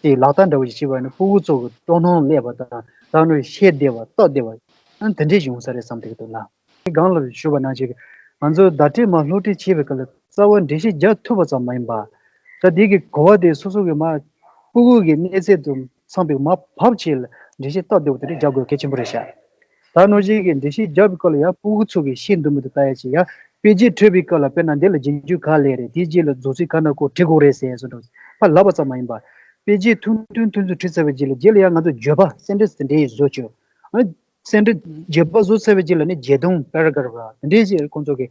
ཅེས་ལག་རྟགས་འདྲ་བོ་ཞིག་བྱེད་པ་ནི་སྤོ་བོ་ཚོ་གི་སྤྲོ་སྣང་སླེབས་པ་དང་བདག་ནི་ཤེས་བདེ་བ་རྟོགས་བདེ་བ། ཨང་དེ་འདྲས་ཤིག་ཡོང་ས་རེད་བསམ་ཐུག་གི་འདུག་ལགས། ཁྱེད་སྒང་ལ་བཞུགས་པ་ན་ཅིག་ང་ཚོ་བརྡ་འཕྲིན་མ་ལྷུག་འཕྲིན་ཕྱེ་བའི་སྐབས་ལ་རྩ་བ་འགྲེལ་བཤད་རྒྱག་ཐུབ་པ་ཙམ་མ་ཡིན་པ། ད་དེ་གི་གོ་བ་དེ་སོ་སོ་གི་མ། སྤོ་བོ་གི་གནས་ཚད་དུ་འཚམས་པའི་མ་བབ་ཅིག་ལ་འགྲེལ་བཤད་རྟོགས་བདེ་བོ་དེ་འདྲ་རྒྱག་དགོས་གལ་ཆེན་པོ་རེད་ཤག། ད་གནོད་སྦྱིན་གྱི་འདྲེ་ཤི་རྒྱག་པའི་སྐབས་ལ་ཡང་སྤུ་གུ་ཚུགས་ཀྱི་ཤིང་དུམ་བུ་དེ་ལྟ་ཡ་བྱས་ཡ། དཔེ་རྗེས་འཕྲོས་པའི་སྐབས་ལ་དཔེར་ན་འདི་ལ་རྗེས་འཇུག་ག་ལེར་རེད་དེའི་རྗེས་ལ་རྫོགས་ཚིག་ག་ན་གོ་གྲི་གུག་རེད་ཟེར་སོ་འགྲོགས་པ་ལབ་པ་ཙམ་མ་ཡིན་པར། དཔེ་རྗེས་ཐུང་ཐུང་ཐུང་ཚུགས་ཁྲི་ཚ་བའི་རྗེས་ལ་རྗེས་ལ་ཡང་ང་ཚོས་བརྗོད་པ་སེ་འབྲས་སེ་འབྲས་ཡིས་བཟོ་བཅོས། སེ་འབྲས་བཟོ་ཚར་བའི་རྗེས་ལ་ནི་རྗེས་ཐུང paragraph དེ་འདྲའི་རྗེས་ཁོང་ཚོ་གིས།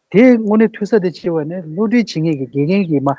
དེ་དངོས་གནས་ཐོས་ས་དེ་ཆེ་བ་ནི་བློ་གྲོས་ཇི་སྙེད་ཀྱི་དགེ་རྒན་གྱིས་མ་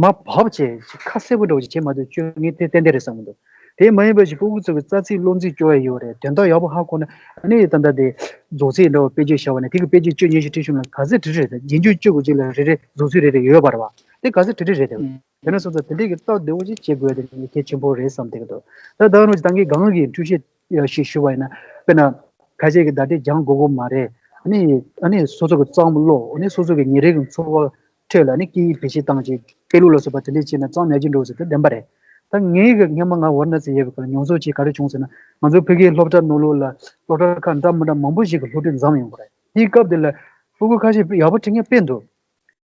མ་བབས་ཆེ་ཁ་གསལ་པོ་འདྲ་བོ་ཞིག་བྱེད་མ་ཐུབ་ཁྱོད་ངས་དེ་ཏན་ཏན་རེད་བསམ་གྱི་འདུག་དེ་མ་ཡིན་པ་ཞིག་སྤོ་སྒུག་ཚོ་གི་རྩ་ཚིག་བློ་འཛིན་སྐྱོ་བས་ཡོད་རེད་དོན་དག་ཡག་པོ་ཧ་གོ་ན་ཨ་ནེ་ཡི་ཏན་ཏན་དེ་རྫོགས་ཚིག་འདྲ་བོ་དཔེ་བརྗོད་བྱ་བ་ནི་དེ་གི་དཔེ་བརྗོད་བཅོས་ཉེས་ཤིག་བྲིས་བྱུང་ན་ག་ཚད་བྲིས་རེད་དེ་རྗེས་འཇུག་བཅོས་དགོས་ཅིག་ལ་རེ་རེ་རྫོགས་ཚིག་རེ་རེ་ཡོད་པར་བ་དེ་ག་ཚད་བྲིས་རེད་དེ་དེ་ནས་སོང་ཙང་དེ་འདྲས་ཀྱི་རྟགས་བདེ་བོ་ཞིག་བྱེད་དགོས་དེ་ནི་གལ་ཆེན་པོ་རེད་བསམ་གྱི་འདུག་ད་ལྟ་ནོར་གྱི་ཏང་གི་སྒང་གི་འཁྲུལ་ཤེས་ཡོད་ཞེས་ཞུ་བ་ཡིན། དཔེར་ན། ཁ་ཤས་ཀྱིས་བདག་འདྲས་སྦྱང་དགོས་ཀྱི་མ་རེད། ནི། སོ་སོ་གྱི་གཙང་བློ། ནི། སོ་སོ་གྱི་ཉིན་རེ་གྱི་འཚོ་བ། ཁྲོད་ལ། ནི། སྐད་ཡིག་བེད་སྤྱད་སྟངས་ཅིག། སྐད་ལུགས་ལ་སོགས་པ་དེ་འདྲས་བྱས་ན་གཙང་མེད་ཀྱི་འགྲོ་ཟེར་དུས་བདེན་པ་རེད། ད། ངས་ཀྱི་སྔན་མ་ང་ཝར་ན་ཚེ་ཡས་པའི་སྐོར་མྱོང་ཚོར་ཅིག་ག་རེ་བྱུང་ཟེར་ན། ང་ཚོའི་བོད་སྐད་སློབ་གྲྭ་ནོར་ལུགས་ལ། སློབ་གྲྭ་ཁག་འདྲ་མི་འདྲ་མང་པོ་ཞིག་གི་སློབ་ཁྲིད་འཛམ་ཡོང་གི་རེད། དེའི་སྐབས་དེ་ལ། སྤུ་གུ་ཁ་ཤས་ཡག་པོ་ཁྲིད་མཁན་དཔེ་འདུག།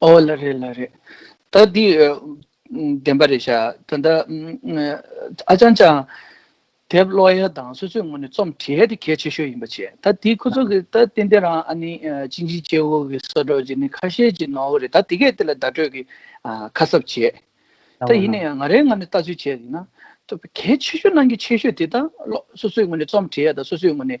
ཨོ་ལ་རེ་ལ་རེ། ད་འདི་བདེན་པ་རེད་ཤག་ད་ལྟ་ཨ་ཅང་ཅང། དེབ་ཀློག་ཡ་དང་སོ་སོའི་ངོ་ནས་རྩོམ་གྲས་དེ་གལ་ཆེ་ཤོས་ཡིན་པ་བྱས་ད་འདི་ཁོ་ཚོ་གི་ད་ཏན་ཏན་རང་ཨ་ནི་ཅིང་ཅིང་སྐྱེ་བོ་གི་སོ་སྒྲོག་ཅིག་ནི་ཁ་ཤས་ཅིག་ནོར་བོ་རེད་ད་དེ་གས་དེ་ལ་བརྡ་སྤྲོད་གི་ཁ་གསབ་བྱས། ད་ཡིན་ན་ཡང་ང་རའི་ངང་ནས་ལྟ་ཚུལ་བྱས་ཟིན་ན། གལ་ཆེ་ཤོས་ནང་གི་ཆེ་ཤོས་དེ་ད་ཀློག་སོ་སོའི་ངོ་ནས་རྩོམ་གྲས་ཡ་དང་སོ་སོའི་ངོ་ནས་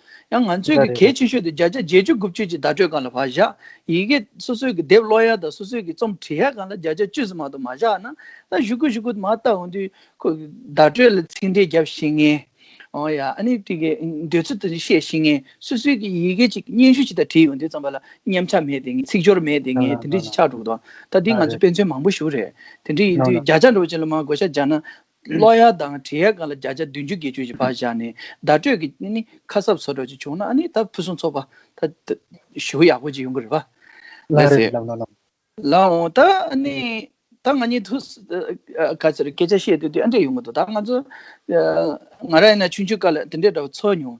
ཡང་ང་ཚོས་གི་གལ་ཆེ་ཤོས་དེ་བརྒྱ་ཆ་བརྒྱད་ཅུ་དགུ་བཅུ་གྱི་བརྡ་སྤྲོད་གང་ལ་བ་བཞག་ཡི་གེ་སོ་སོའི་གི་དེབ་ཀློག་ཡ་དང་སོ་སོའི་གི་རྩོམ་འབྲི་ཡ་གང་ལ་བརྒྱ་ཆ་བཅུ་ཟིན་མ་ཏོ་མ་བཞག་ན་ད་བཞུགས་ཁུ་བཞུགས་ཁུ་མ་ལྟ་འོང་དུས་ཁུ་བརྡ་སྤྲོད་ལ་ཚིག་འགྲེལ་བརྒྱབ་ཤེས་ངེས་འོང་ཡ་ཨ་ནི་ཏི་གི་འདོད་ཚུལ་དེ་བཤད་ཤེས་ངེས་སོ་སོའི་གི་ཡི་གེ་ཅིག་སྙན་ཞུ་ཅིག་དང་བྲིས་ཡོང་དུས་རྩོམ་པ་ལ་མཉམ་ཆ་མེད་དེ་ངེས་ཚིག་སྦྱོར་མེད་དེ་ངེས་དེ་འདྲི་ཅིག་ཆགས་འགྲོ་གི་དོ་ད་དེ་ང་ཚོ་དཔེ་མཚོན་མང་པོ་བཞུགས་རེད་དེ་འདྲི་ཡོང་དུས་བརྒྱ་ཆ་འགྲོ་བ་ཅན་ལ་མ་བགོ་བཤའ་བརྒྱག་ན་གློག་ཡར་དང་གྲི་ཡར་གང་ལ་བརྒྱ་ཆ་བདུན་ཅུ་བརྒྱད་ཅུ་ཞིག་བག་བཞག་ནས་བརྡ་སྤྲོད་ཀྱི་ནི་ཁ་གསབ་ཚོ་དྲག་ཅིག་བྱུང་ན་ནི་ད་ཕུན་སུམ་ཚོགས་པ་ད་ཞུ་ཡག་པོ་ཅིག་ཡོང་གི་རེད་པ། ལགས་རེད། ལགས་ལགས་ལགས། ལགས་འོ་ད་ནི་ད་ང་གཉིས་ཐུགས་ག་ཟེ་རེད་སྐད་ཆ་བཤད་དུས་དེ་འདྲས་ཡོང་གི་འདུག་ད་ང་ཚོ། ང་རང་ཡིན་ན་ཆུང་ཆུང་སྐར་ལ་དེ་འདྲས་འདྲ་བ་འཚོལ་མྱོང།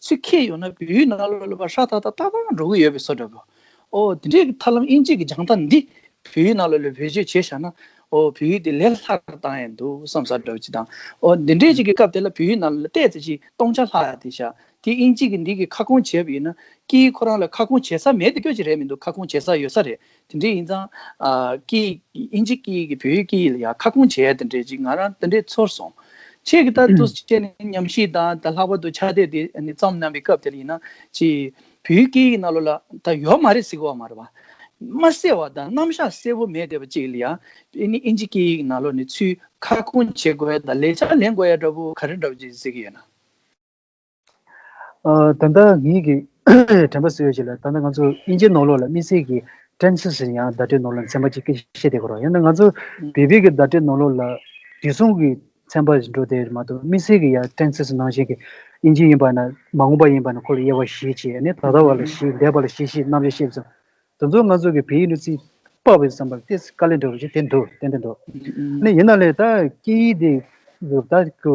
ཚིག་ཁྱད་ཡོད་ན་བེའུའི་སྣ་ལོ་ལོ་པ་ཧྲ་ཐག་ཐག་ཏག་ཏག་འགྲོ་གི་ཡོད་པའི་སོ་འདྲ་གོ། ཨོ། འདི་འདྲའི་ཐར་ལམ་དབྱིན་ཇིག་གི་སྦྱང་སྟངས་འདི་བེའུའི་སྣ་ལོ་ལོ་བེད་སྤྱོད་བྱེད་བཞག་ན། ཨོ། བེའུ་འདི་ལས་ལྷར་བཏང་ཡས་འདུག་བསམ་ས་འདྲ་བ་ཅིག་དང། ཨོ། འདི་འདྲའི་ཅིག་གི་སྐབས་དེ་ལ་བེའུའི་སྣ་ལོ་ལོ་བལྟས་ཚེ་ཅིག་སྟོང་ཆ་ལྷག་དེ་བཞག་དེ་དབྱིན་ཇིག་གི་འདི་གི་ཁ་སྐོང་བྱས་པ་ཡིན་ན། ཀྱིས་ཁོ་རང་ལ་ཁ་སྐོང་བྱེད་ས་མེད་དེ་སྐྱོ་ཅིག་རེད་མི་འདུག་ཁ་སྐོང་བྱེད་ས་ཡོད་ས་རེད་དེ་འདྲས་ཡིན་ཙང། སྐད་ཡིག་དབྱིན་ཇི་སྐད་ཡིག་གིས་བོད་ཡིག་སྐད་ཡིག་ལ་ཡང་ཁ་སྐོང་བྱས་དེ་འདྲས་ཅིག་ང་རང་དེ་འདྲས་ཚོར་སོང། ཁྱེད་ཀྱི་ལྟ་རྟོག་བཅས་ནི་ཉམས་ཞིབ་དང་ད་ལྷག་པར་དུ་ཕྱག་དེབ་དེ་བརྩམས་གནང་པའི་སྐབས་དེར་ཡིན་ན་ཅི། བོད་ཡིག་སྐད་ཡིག་གི་ནང་ལོགས་ལ་ད་ཡོད་མ་རེད་ཟེར་གི་བ་མ་རེད། མ་གསལ་བ་དང་རྣམ་གཞག་གསལ་བོ་མེད་བསྡད་པ་ཅིག་ལ་ཡང་དེ་ནི་དབྱིན་ཇི་སྐད་ཡིག་གི་ནང་ལོགས་ནས་ཚུལ་ཁ་སྐོང་བྱེད་དགོས་ཡ་དང་ལས་འཆར་ལེན་དགོས་ཡ་འདྲ་བོ་ག་རེ་འདྲ་བོ་ཅིག་ཟེར་གི་ཡོད་ན། ད་ལྟ་ངེད་ཀྱི་དྲན་པ་སེལ་བྱེད་ལ་ད་ལྟ་ང་ཚོ་དབྱིན་ཇིའི་ནོར་ལོག་ལ་དམིགས་བསལ་གྱི་དྲན་ཤེས་ཟེར་ཡང་བརྡ་སྤྲོད་ནོར་ལོག་ལ་ཚན་པ་གཅིག་སྐད་ཤེས་དེ་གོ་རོགས་ཡང་ན་ང་ཚོ་བོད་པའི་གི་བརྡ་སྤྲོད་ནོར་ལོག་ལ་དུས་སྲུང་གི་ཚན་པ་འགྲོ་དེ་མ་གཏོགས་དམིགས་བསལ་གྱི་ཡ་དྲན་ཤེས་སུ་ནང་བཞིན་གྱི་དབྱིན་ཇི་ཡིན་པ་ན་མ་འོངས་པ་ཡིན་པ་ན་ཁོ་ལ་དབྱེ་བ་བཞི་ཅེས་ནི་ད་ལྟ་བ་ལ་བཞི་འདས་པ་ལ་བཞི་ཞེས་རྣམ་དབྱེ་བཤད་ཟིན། དོན་ཚོགས་ང་ཚོ་གི་བོད་ཡིག་འབྲི་ཚིག་དཔག་པའི་བསམ་པར་ལྟས་ཚེ་དཀའ་ལས་འགྲོ་བ་ཞིག་དེ་འདུག་ཏན་ཏན་འདུག། ནི་ཡིན་ན་ལེ་ད་སྐད་ཡིག་འདི་ད་ཁོ་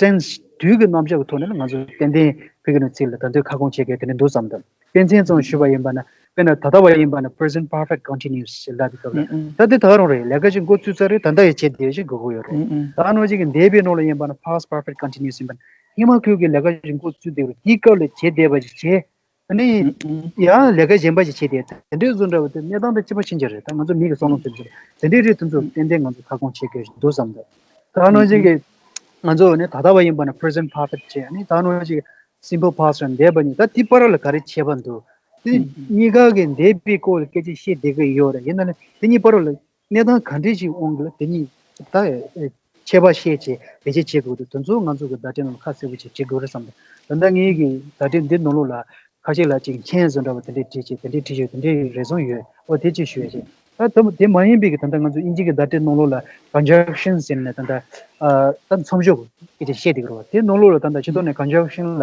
ཀྲན། དུས་ཀྱི་རྣམ་བཤད་ཀྱི་ཐོག་ནས་ང་ཚོ་ཏན་ཏན་བོད་ཀྱི་ནང་ཚིག་ལ་ད་དུས་ཁ་ཁོང་བྱེད་དགོས་དེ་འདྲ་འདུག་བསམ་དང། དཔེ་མཚན་ཙམ་ཞུས་པ་ཡིན་པ་ན་དཔེར་ན་ད་ལྟ་བ་ཡིན་པ་ན Present Perfect Continuous ཞེས་ལབ་པའི་སྐབས་ལ་ད་དེ་ད་རུང་རེད་ལས་ཀ་ཅིག་འགོ་ཚུགས་ཚར་རེད་ད་ལྟ་ཡང་བྱེད་བདེ་ཞེས་དགོས་མཁོ་ཡོད་རེད། ད་གནོད་བྱེད་ཀྱི་འདས་པའི་ནང་ལ་ཡིན་པ་ན Past Perfect Continuous ཡིན་པ་ན་སྔོན་མ་ཁོས་ཀྱི་ལས་ཀ་ཅིག་འགོ་ཚུགས་བདེ་རུང་དེའི་སྐབས་ལ་བྱེད་བདེ་བ་ཞིག་བྱས་ད་ནི་ཡང་ལས་ཀ་གཞན་པ་ཞིག་བྱས་ཏེ་དེ་འདྲའི་བཟོ་འདྲ་བ་དེ་གནས་སྟངས་དེ་ཅི་མ་ཕྱིན་ཆད་རེད་ད་ང་ཚོ་མིག་གི་གསོག་ལམ་ཟེར་གྱི་རེད་དེ་འདྲའི་རིགས་དེ་ཚོ་ཏན་ཏན་ང་ཚོ་ཁ་སྐོང་བྱེད་དགོས་ཀྱི་འདུག་བསམ་འདོད་ད་གནང་བཞིན་གྱི་ང་ཚོ་ནི་ད་ལྟ་བ་ཡིན་པ་ན present perfect བྱས་ནི་ད་གནང་བཞིན་གྱི simple past རང་འདས་པ་ནི་ད་དེ་པར་ལ་ག་རེ་བྱས་པ་འདུག་དེ་གཉིས་ཀ་གི་འདས་པའི་སྐོར་ལ་སྐད་ཆ་བཤད་བསྡད་ཀྱི་ཡོད་རེད་ཡིན་ན་ནི་དེ་གཉིས་པར་ལ་གནས་སྟངས་ག་འདྲས་ཤིག་འོང་གི་ལ་དེ་གཉིས་ད་ཁྱད་པར་ཤེས་ཆེད་བེད་སྤྱད་བྱེད་དགོས་འདུག་དོན་ཚོགས་ང་ཚོ་གི་བརྡ་སྤྲད་ནང་ལ་ཁ་གསལ་བོ་ཞིག་བྱེད་དགོས་རེད་བསམ་འདུག་ད་ལྟ་ངེད་ཀྱི་བརྡ་སྤྲད་འདི་ནོར་ལུག་ལ་ཁ་ཤས་ལ་ཅིག་མཁྱེན་བཟོ་འདྲ་བ་དེ་འདྲས་བྲིས་ཆེད་དེ་འདྲས་བྲིས་ཞོར་དེ་འདྲས་རེ་ཟུང་ཡོད་འོ་དེ་ཅིག་ཞུ་ཡ་ཤེས་ད་ད་དེ་མ་ཡིན་པའི་གི་ད་ད་ང་ཚོ་དབྱིན་ཇི་གི་བརྡ་སྤྲད་ནོར་ལུག་ལ Conjunction ཟེར་ནས་ད་ད་ད་མཚམས་ཞོག་ཅིག་ཅིག་བཤད་དེ་གི་རོ་དེ་ནོར་ལུག་ལ་ད་ད་ཕྱི་ཐོག་ནས Conjunction ལ་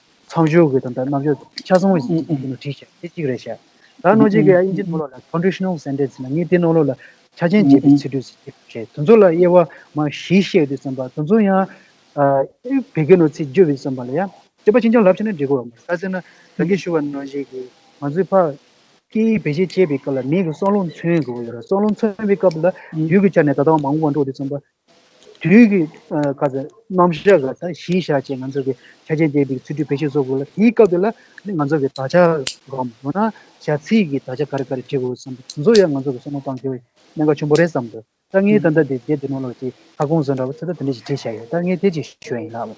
མཚམས་ཞོར་གྱི་དང་རྣམ་དཔྱོད་ཆ་ཚང་བ་ཞིག་ཅིག་ཡིན་ནོ་བྲིས་ཤག་དེ་གཅིག་རེད་ཤག་ད་ནོར་འཇིགས་ཀྱི་དབྱིན་ཇི་ནོར་ལོག་ལ Conditional Sentence ནང་ངས་དེ་ནོར་ལོག་ལ་ཆ་རྐྱེན་བྱས་པའི་ཚིག་འགྲོས་སུ་བྱས་པ་རེད་དོན་ཚོགས་ལ་དབྱེ་བ་མ་ཞིག་བཤད་དུས་བརྩམས་པ་དོན་ཚོགས་ཡང་བད་ཀན་ནོར་ཚིག་བརྗོད་པའི་བརྩམས་པ་ལ་ཡང་དཔྱད་པ་ཅིང་ཅང་ལབ་བྱས་ན་འགྲིག་གི་འོ་མ་རེད་ག་ཚོད་ན་རང་གིས་ཞུ་བ་ནོར་འཇིགས་ཀྱིས་ང་ཚོའི་ཕ་སྐད་ཡིག་བེད་སྤྱད་བྱས་པའི་སྐབས་ལ་མིང་གི་སྲོག་རླུང་མཚོན་དགོས་ཀྱི་རེད་སྲོག་རླུང་མཚོན་པའི་སྐབས་ལ་ཡུལ་གྱི་ཆ་ནས་ད་ལྟའང་མང་བོ་བ་འགྲོ་འདུག་བརྩམས་པ་དུས་ཀྱི་ཁ་ཟས་རྣམ་བཞག་གི་ད་གཞིའི་ཞག་བཅས་ང་ཚོ་གི་ཆ་རྐྱེན་ལྡན་པའི་ཚུལ་དུ་བེད་སྤྱོད་བཟོ་དགོས་ལ་དེའི་སྐབས་དེ་ལ་ང་ཚོ་གི་དག་ཆ་གམ་འོ་ན་བྱ་ཚིག་གི་དག་ཆ་ག་རེ་ག་རེ་བྲིས་དགོས་བསམ་དུས་དེ་ཚོ་ཡང་ང་ཚོ་གི་སོ་ནམ་སྤང་དགོས་གནད་འགག་ཆེན་པོ་རེད་བསམ་དུས་ད་ངའི་ད་ལྟ་འདི་རྒྱས་འདི་ནོར་ལོག་ཅེས་ཁ་སྐོང་བཟོ་འདྲ་བོ་ཚོད་ལྟ་དེ་འདྲ་ཞིག་བྱས་བཞག་ཡོད་ད་ངས་དེ་ཅིག་ཞུ་བ་ཡིན་ལགས།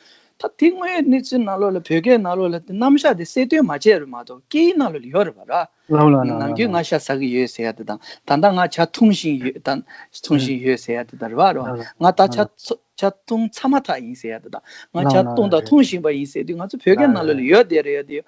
ད་དེ་སྔོན་གནས་ཚུལ་ནང་ལོགས་ལ་བོད་སྐད་ནང་ལོགས་ལ་དེ་རྣམ་གཞག་དེ་གསལ་སྟོན་མ་བྱས་རུང་མ་གཏོགས་སྐད་ཡིག་ནང་ལོགས་ལ་ཡོད་རེད་བ་ར། ནང་རྒྱུད་ང་ཤ་ཟ་གི་ཡོད་ཟེར་ཡ་དེ་དང་ད་ལྟ་ང་ཆ་འཐུང་བཞིན་ཡོད་ད་འཐུང་བཞིན་ཡོད་ཟེར་ཡ་དེ་དང་རེད་བ་ར། ང་ད་ཆ་ཆ་འཐུང་ཚར་མ་ཐག་ཡིན་ཟེར་ཡ་དེ་དང་ང་ཆ་འཐུང་དང་འཐུང་བཞིན་པ་ཡིན་ཟེར་དུས་ང་ཚོ་བོད་སྐད་ནང་ལོགས་ལ་ཡོད་དེ་རེད་ཡོད་དེ་ཡོད།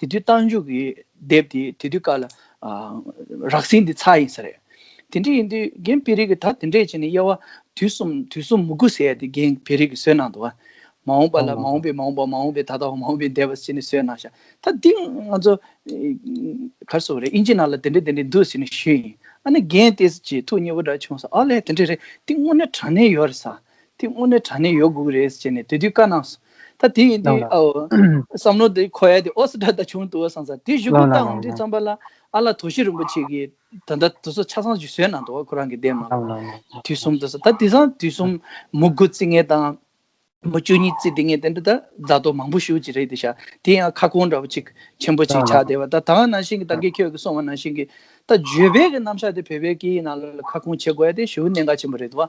དེ་དུས་རྟ་མཇུག་གི་དེབ་དེ་དེ་དུས་ཀ་ལ་རག་བསྲིངས་ཏེ་ཚར་ཡིན་ས་རེད། དེ་འདྲ་ཡིན་དུས་རྒན་བེ་རི་གི་ད་དེ་འདྲས་བྱས་ནས་དབྱེ་བ་དུས་གསུམ་དུས་གསུམ་མུ་གུ་ཟེར་ཡ་དེ་རྒན་བེ་རི་གི་བཟོས་གནང་འདུག་མ་འོངས་པ་ལ་མ་འོངས་པའི་མ་འོངས་པ་མ་འོངས་པའི་ད་ལྟ་བ་མ་འོངས་པའི་འདས་པ་བྱས་ནས་བཟོས་གནང་ཞག་ད་འདི་ང་ཚོ་གར་སོང་བ་རེད་དབྱིན་ཇི་ནང་ལ་དེ་འདྲས་དེ་འདྲས་འདུག་ཟེར་ནས་ཞུས་ཡིན་ཨ་ནི་རྒན་བསྟན་སྲིད་ཀྱིས་ཐུགས་མཉེས་པོ་འདྲ་བྱུང་ས་ཨོ་ལེ་དེ་འདྲས་རེད་འདི་དངོས་གནས་དྲང་གནས་ཡོད་རེད་ས། དེ་དངོས་གནས་དྲ་གནས་ཡོད་དགོས་ཀྱི་རེད་ཟེར་ནས་དེ་དུས་བཀའ་གནང་སོང། ད་དེ་ཡིན་དུས་བསམ་བློ་དེ་གོ་ཡ་དེ་ཨོ་སི་ཀྲ་ད་བྱུང་འདུག་བསམ་ས་དེ་བཞུགས་སྒར་སྟག་ལུང་འདྲེན་ཙམ་པ་ལ་ཨ་ལ་དོ་ཤི་རིན་པོ་ཆེ་གི་ད་ལྟ་དུ་སོ་ཆ་ཚང་བཞུགས་སའི་ནང་དུ་ཁོ་རང་གི་སྡེ་མ་ལ་དུས་གསུམ་དུ་སོ་ད་དེ་སང་དུས་གསུམ་མུ་དགུ་རྩིས་ངེས་དང། མུ་བཅུ་གཉིས་རྩིས་དེ་ངེས་དེ་འདྲ་ད་རྫ་རྡོ་མང་པོ་བཞུགས་ཀྱི་རེད་དེ་ཤ་དེ་ཡང་ཁ་སྐོང་འདྲ་བོ་ཆིག་ཆེན་པོ་ཆིག་ཆགས་དེ་བ་ད་ད་ག་ནང་བཞིན་གྱི་ད་དགེ་ཁྱོད་ཀྱི་སོང་བ་ནང་བཞིན་གྱི་ད་བརྗོད་བས་གི་རྣམ་གཞག་དེ་བོད་པའི་སྐད་ཡིག་ནང་ལ་ཁ་སྐོང་བྱེད་དགོས་ཡ་དེ་ཞུ་གནད་འགག་ཆེན་པོ་རེད་དུ་བ།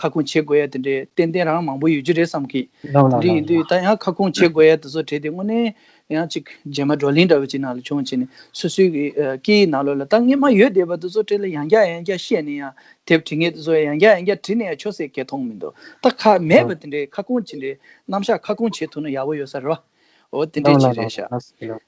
ཁ་སྐོང་བྱེད་དགོས་ཡ་དེ་འདྲའི་ཏན་ཏན་རང་མང་པོ་ཡོད་རྒྱུ་རེད་བསམ་གི། དེ་འདྲ་ཡིན་དུས་ད་ཡང་ཁ་སྐོང་བྱེད་དགོས་ཡ་དེ་ཚོ་བྲིས་ཏེ་དངོས་གནས་ཡང་གཅིག་རྗེས་མ་བགྲོ་གླེང་འདྲ་བོ་ཅིག་ནང་ལ་བྱུང་བྱས་ནས་སུ་སུའི་སྐེ་ཡི་ནང་ལོགས་ལ་ད་སྔས་མ་ཡོད་བསྡད་པ་དེ་ཚོ་བྲིས་ལ་ཡང་བསྐྱར་ཡང་བསྐྱར་བཤད་ནས་ཡང་དེབ་བྲིས་ངེས་དེ་ཚོ་ཡང་བསྐྱར་ཡང་བསྐྱར་བྲིས་ནས་ཡང་ཆོག་སའི་སྐད་མཐོང་མི་འདུག་ད་ཁ་མེད་པ་དེ་འདྲའི་ཁ་སྐོང་ཅི་འདྲའི་རྣམ་གཞག་ཁ་སྐོང་བྱེད་ཐུབ་ན་ཡག་པོ་ཡོད་ས་རེད་བ། འོ་དེ་འདྲའི་ཅིག་རེད་ཤག།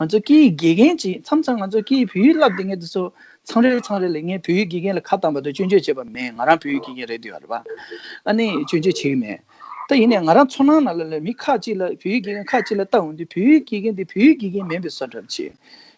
ང་ཚོ་སྐད་ཡིག་དགེ་རྒན་གྱིས་མཚམས་མཚམས་ང་ཚོར་སྐད་ཡིག་བོད་ཡིག་བསླབ་དེ་ངེད་ཚོ་ཚང་རེ་ཚང་རེ་ལས་ངས་བོད་ཡིག་དགེ་རྒན་ལ་ཁ་བཏང་བ་དང་སྐྱོན་བརྗོད་བྱས་པ་མེད་ང་རང་བོད་ཡིག་དགེ་རྒན་རེད་འདོད་ཡོད་རེད་པ་ཨ་ནི་སྐྱོན་བརྗོད་བྱེད་ཀྱི་མེད། ད་ཡིན་ནའི་ང་རང་ཚོ་ནང་ན་ལ་ལས་མི་ཁག་གཅིག་ལ་བོད་ཡིག་དགེ་རྒན་ཁག་གཅིག་ལ་བལྟ་འོང་དུས་བོད་ཡིག་དགེ་རྒན་འདི་བོད་ཡིག་དགེ་རྒན་མིན་པའི་སོ་གྲབས་བྱེད།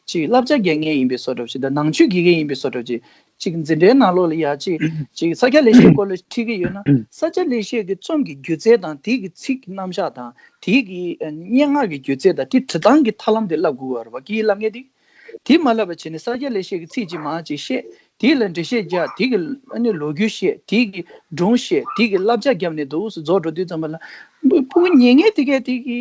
ཅིག་བསླབ་བྱ་དགེ་རྒན་ཡིན་པའི་སོ་གྲབས་བྱེད་དང་ནང་ཆོས་དགེ་རྒན་ཡིན་པའི་སོ་གྲབས་བྱེད། ཅིག་འཛིན་གྲྭའི་ནང་ལོགས་ལ་ཡག་ཅིག་ཅིག་ས་སྐྱ་ལེགས་བཤད་སྐོར་ལ་ཁྲིད་ཀྱི་ཡོད་ན་ས་སྐྱ་ལེགས་བཤད་ཀྱི་རྩོམ་གྱི་སྒྱུ་རྩལ་དང་དེ་གི་ཚིག་གི་རྣམ་གཞག་དང་དེ་གི་སྙན་ངག་གི་སྒྱུ་རྩལ་དང་དེ་བྲི་སྟངས་ཀྱི་ཐར་ལམ་དེ་བསླབ་དགོས་བར་བ་ཀིའི་བསླབ་ངེས་ཏིག་དེ་མ་བསླབ་པར་བྱས་ནས་ས་སྐྱ་ལེགས་བཤད་ཀྱི་ཚིག་ཅིག་མ་ཅིག་བཤད་དེ་ལ་འགྲེལ་བཤད་རྒྱག་དེ་གི་ལོ་རྒྱུས་བཤད་དེ་གི་སྒྲུང་བཤད་དེ་གི་བསླབ་བྱ་བརྒྱབ་ནས་དུག་སུ་རྫོགས་འགྲོ་དུས་ཙམ་པ་ལ། བུ་གུ་ཉེ་ངས་དེ་གས་དེ་གི།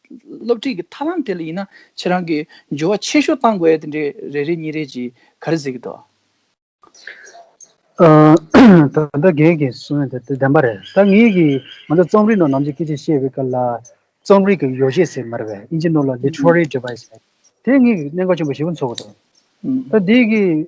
སློབ་ཁྲིད་ཀྱི་ཐབས་ལམ་དེ་ལ་ཡིན་ན་ཁྱེད་རང་གིས་འགྱུར་བ་ཆེ་ཤོས་གཏང་དགོས་དེ་འདྲའི་རེ་རེ་གཉིས་རེ་གྱིས་ག་རེ་ཟེར་གི་འདུག། ད་ལྟ་རྒན་གྱི་གསུང་ཡང་དེ་བདེན་པ་རེད་ད་ངེད་ཀྱིས་ང་ཚོ་རྩོམ་རིག་ནང་ནམ་ཅིག་སྐད་ཆ་བཤད་པའི་སྐབས་ལ་རྩོམ་རིག་གི་ཡོ་བྱད་ཟེར་མེར་བས་དབྱིན་ཇི་ནོར་ལ Literary Device ལས་དེ་ངེད་ཀྱིས་གནད་འགག་ཆེན་པོ་བཞི་པོ་འཚོལ་དགོས་འདུག་ད་འདི་གིས་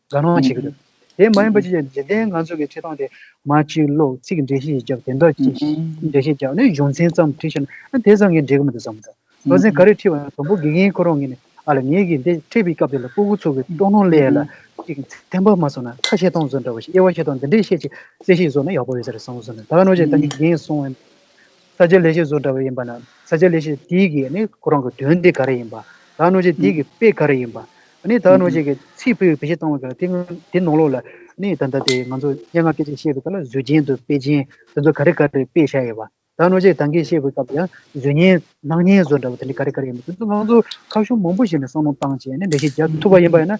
དགའ་སྣང་བྱེད་ཀྱི་འདུག་དེ་མ་ཡིན་པ་ཅིག་ཀྱང་འཇིག་རྟེན་ང་ཚོ་གི་ཁྲི་ཐང་དེ་མ་གཅིག་གློག་ཚིག་འགྲེལ་བཤད་ཞིག་རྒྱབ་དེ་འདྲ་ཅིག་འགྲེལ་བཤད་རྒྱབ་ནས་གཞུང་ཚན་ཙམ་བྲིས་ཤོར་ན་དེ་ཙམ་གྱིས་འགྲིག་གི་མི་འདུག་བསམ་མོད། ལོ་ཚན་ག་རེ་ཁྲིད་པ་ན་དུམ་བུ་དགེ་རྒན་ཁོ་རང་གིས་ནི་ཨ་ལ་ངེད་ཀྱིས་འདི་ཁྲིད་པའི་སྐབས་དེ་ལ་པོ་གུ་ཚོ་གི་སྤྲོ་སྣང་ལས་ལ་ཅིག་མཚན་པ་མ་སོང་ན་ཁ་བཤད་སྟངས་བཟོ་འདྲ་བ་ཞིག་དབྱེ་བ་ཤེས་སྟངས་འདི་འདྲའི་བཤད་ཅིག་རྩེ་ཞིག་བཟོ་ན་ཡག་པོ་རེད་ཟེར་བསམ་བློ་བཟོ་ནས་ད་ག་ནོར་བྱས་ད་ངེད་རྒན་སོང་བས། ས་སྐྱའི་ལས་བྱེད་བཟོ་འདྲ་བ་ཡིན་པ་ན་ས་སྐྱའི་ལས་བྱེད་དེའི་གིས་ནི་ཁོ་རང་གི་དོན་དེ་ག་རེ་ཡིན་པ། ད་ནོར་བྱེད་དེའི་གིས་དཔེ་ག་རེ་ཡིན་པ། ནི་ད་ནོར་བྱེད་ཀྱི་ཚིག་ཕུད་བེད་སྤྱད་བཏང་བ་ག་རེ་དེ་དེ་ནོར་ལོག་ལ་ནི་ད་ལྟ་དེ་ང་ཚོ་སྙན་ངག་སྐད་ཆས་བཤད་པའི་སྐབས་ལ་བཟོད་བརྒྱན་དུ་དཔེ་ཅན་དེ་ཚོ་ག་རེ་ག་རེ་དཔེ་བྱ་ཡོད་པ། ད་ནོར་བྱེད་དང་གིས་བཤད་པའི་སྐབས་ཀྱང་བཟོད་བརྙན་སྣང་བརྙན་བཟོ་འདྲ་བ་དེ་འདྲ་ག་རེ་ག་རེ་ཡིན་པ་དེ་ཚོ་ང་ཚོ་ཁ་ཤུ་མང་པོ་ཞིག་ནས་བསམ་བློ་བཏང་རྗེས་ནི་ལས་གཞི་རྒྱག་ཐུབ་པ་ཡིན་པ་ཡིན་ན།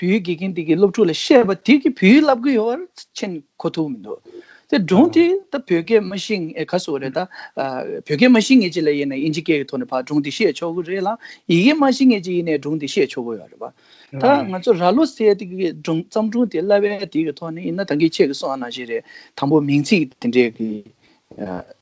བུའི་དགེ་རྒན་དེ་གིས་སློབ་ཕྲུག་ལ་བཤད་པ་དེ་གིས་བུའི་བསླབ་གོ་ཡོད་བར་མཁྱེན་གོ་ཐུབ་མི་འདུག་དེ་སྒྲུང་དེ་ད་བོད་སྐད་མ་ཤེས་ངེས་ག་སོ་རེད་ད། བོད་སྐད་མ་ཤེས་ངེས་ཅིག་ལ་ཡིན་ན་དབྱིན་ཇི་སྐད་ཀྱི་ཐོག་ནས་ཕར་སྒྲུང་དེ་བཤད་ཆོག་གི་རེད་ལ། ཡི་གེ་མ་ཤེས་ངེས་ཅིག་ཡིན་ནས་སྒྲུང་དེ་བཤད་ཆོག་གོ་ཡོད་རེད་པ། ད་ང་ཚོ་ར་ལོ་སའི་དེ་གི་སྒྲུང་བརྩམས་སྒྲུང་དེ་བསླབ་པའི་དེ་གི་ཐོག་ནས་ཡིན་ན་ད་གི་ཁྱེད་ཀྱི་སོ་ཨ་ན་ཞིག་རེད་དང་པོ་མིང་ཚིག་དེ་འདྲས་ཀྱི།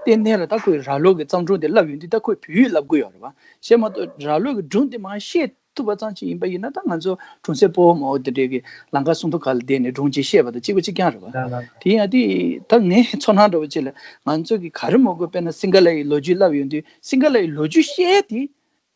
ལྟེ་གནས་ལ་ལྟ་ཁོའི་རྭ་ལོག་གི་གཙང་སྒྲུང་དེ་བསླབ་ཡོད་འདི་ལྟ་ཁོས་བོད་ཡིག་བསླབ་དགོས་ཡོད་རེད་བ། ཞེས་མ་གཏོགས་རྭ་ལོག་གི་སྒྲུང་དེ་མ་ཤེས་ཐུབ་པ་ཙང་ཅི་ཡིན་པ་ཡིན་ན་ད་ང་ཚོ་གྲོང་གསེབ་སྤོ་བོ་མོ་དེ་འདྲས་ཀྱི་ལང་ཀ་སུམ་མདོ་ག་ལ་བསྡད་ནས་སྒྲུང་གཅིག་ཤེས་པ་དང་གཅིག་པ་གཅིག་རྐྱང་རེད་བ། དེ་ཡང་དེ་ད་ངའི་ཚོར་སྣང་འདྲ་བོ་ཅི་ལ་ང་ཚོ་གི་ག་རེ་མོ་དགོས་དཔེར་ན་སིངྒ་ལ་ཡི་ལོ་རྒྱུས་བསླབ་ཡོད་འདི་སིངྒ་ལ་ཡི་ལོ་རྒྱུས་ཤེས་དེ་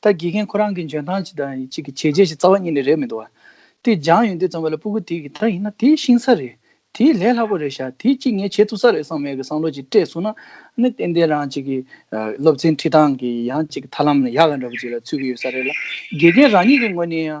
ད་དགེ་རྒན་ཁོ་རང་གི་འཇོན་ཐང་གཅིག་དང་གཅིག་གི་བྱས་རྗེས་ཀྱི་རྩ་བ་གཉིས་ལས་རེ་མི་འདུག་བ། དེ་སྦྱང་ཡོང་དུས་ཙམ་པ་ལ་སྤུ་གུ་དེ་གི་ད་ཡིན་ན་དེའི་ཤིང་ས་རེད། དེའི་ལས་སླ་པོ་རེད་ཤག་དེའི་གཅིག་ངས་བྱེད་ཐུབ་ས་རེད་བསམ་མེད་ཀྱི་བསམ་བློ་གཅིག་སྤྲད་སོང་ན། ནི་ཏན་ཏན་རང་གཅིག་གི་སློབ་ཚན་ཁྲིད་སྟངས་ཀྱི་ཡང་གཅིག་གི་ཐར་ལམ་ལ་ཡག་ག་འདྲ་པོ་ཅིག་ལ་ཚུད་ཀྱི་ཡོད་ས་རེད་ལ། དགེ་རྒན་རང་ཉིད་ཀྱི་ངོས་ནས་ཡང།